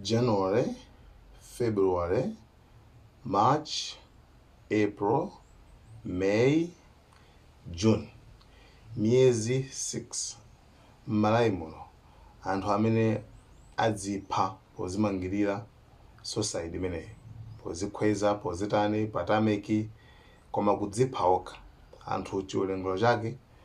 January, February, March, April, May, June. Miyezi 6 m'Malawi muno anthu amene adzipha pozimangirira suicide imeneyi pozikhweza pozitani patameki koma kudzipha okha anthu chiwerengero chake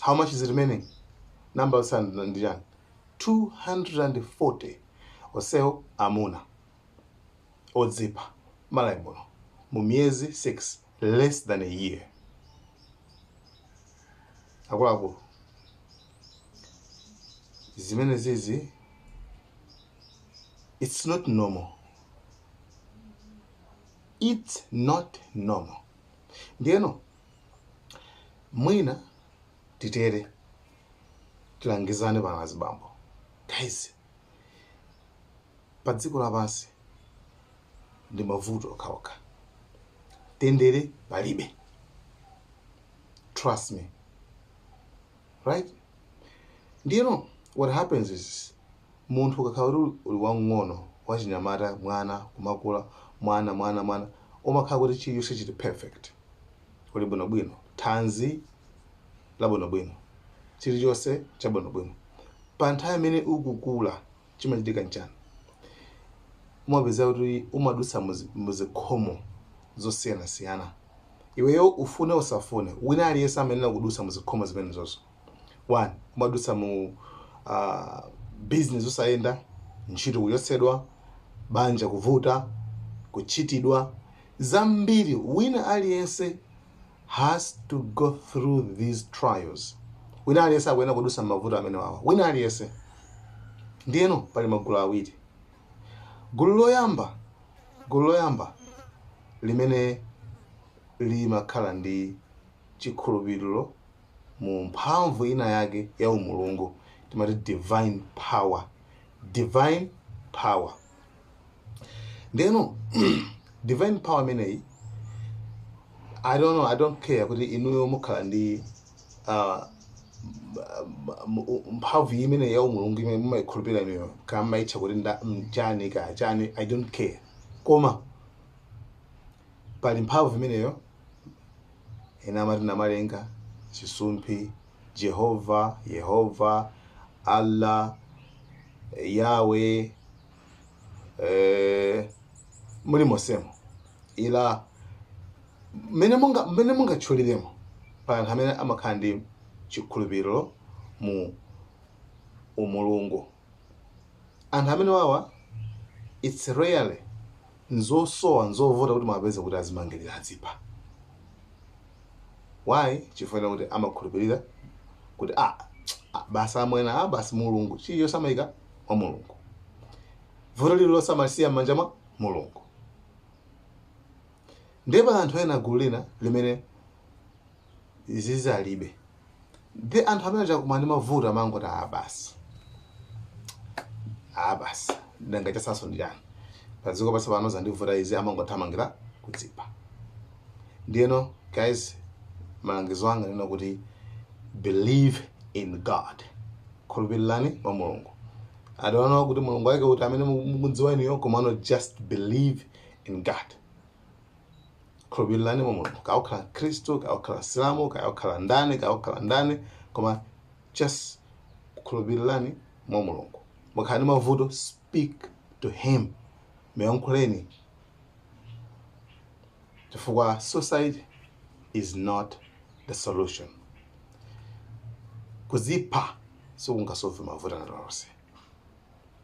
how much is remaining namba yotsala ndi chani 240 onsewo amuna odzipha m'Malawi muno mu miyezi 6 less than a year akuluakulu zimene zizi it's not normal it's not normal ndiyeno mwina titere tilangizane pano azibambo guys pa dziko lapansi ndi mavuto okhaokha mtendere palibe trust me right ndiyeno what happens is munthu ukakhala kuti uli wang'ono wachinyamata mwana kumakula mwana mwana mwana umakhala kuti chilichonse chili perfect uli bwinobwino thanzi labwinobwino chilichonse chabwinobwino pa nthawi imene ukukula chimachitika nchani umapeza kuti umadutsa muzi- muzikhomo zosiyanasiyana Iweyo ufune usafune, wina aliyense amayenera kudutsa mu zikhomo zimenezozo. One, umadutsa mu uh, business osayenda, ntchito kuchotsedwa, banja kuvuta, kutchitidwa zambiri. Wina aliyense has to go through these trials. Wina aliyense akuyenera kudutsa m'mavuto amene wawa, wina aliyense. Ndiyeno pali magulu awiri, Gulu loyamba, gulu loyamba limene limakhala ndi chikhulupiriro mu mphamvu ina yake ya umulungu timati divine power divine power ndeno divine power imeneyi i don't know i don't care kuti inuyo mukhala ndi uh, mphamvu imene ya umulungu imene mumayikhulupirira inuyo kaya mumayitcha kuti nda- mchani kaya chani i don't care koma pali mphamvu imeneyo ena amati namalenga chisumphi jehova yehova allah yawe eh, mulimonsemo ila mmene munga mmene mungatchuliremo pa anthu amene amakhala ndi chikhulupiriro mu umulungu anthu amenewawa it's rarely nzosowa nzovuta kuti muwapeze kuti azimangilira adzipha why chifukwa chakuti amakhulupirira kuti ah, ah, basi amwena ah, basi mulungu chilichonse amayika mwa mulungu vuto lililonse amalisiya m'manja mwa mulungu ndipo anthu ena gulu lina limene zizi alibe ndi anthu amene akakumana ndi mavuto amangoti ah basi ah basi nanga chatsalanso ndi chani padziko pasi pano zandivuta izi amangothamangira kudzipha ndiyeno guys malangizo anga ndinena kuti believe in god khulupirirani mwa mulungu I don't know kuti mulungu wake uti amene mukudziwa inuyo komano just believe in god khulupirirani mwa mulungu kaya ukhala mkhristu kaya ukhala msilamu kaya ukhala ndani kaya ukhala ndani koma just khulupirirani mwa mulungu mukhala ndi mavuto speak to him muyankhuleni chifukwa suicide is not the solution kuzipha sikungasove mavuto ena alionse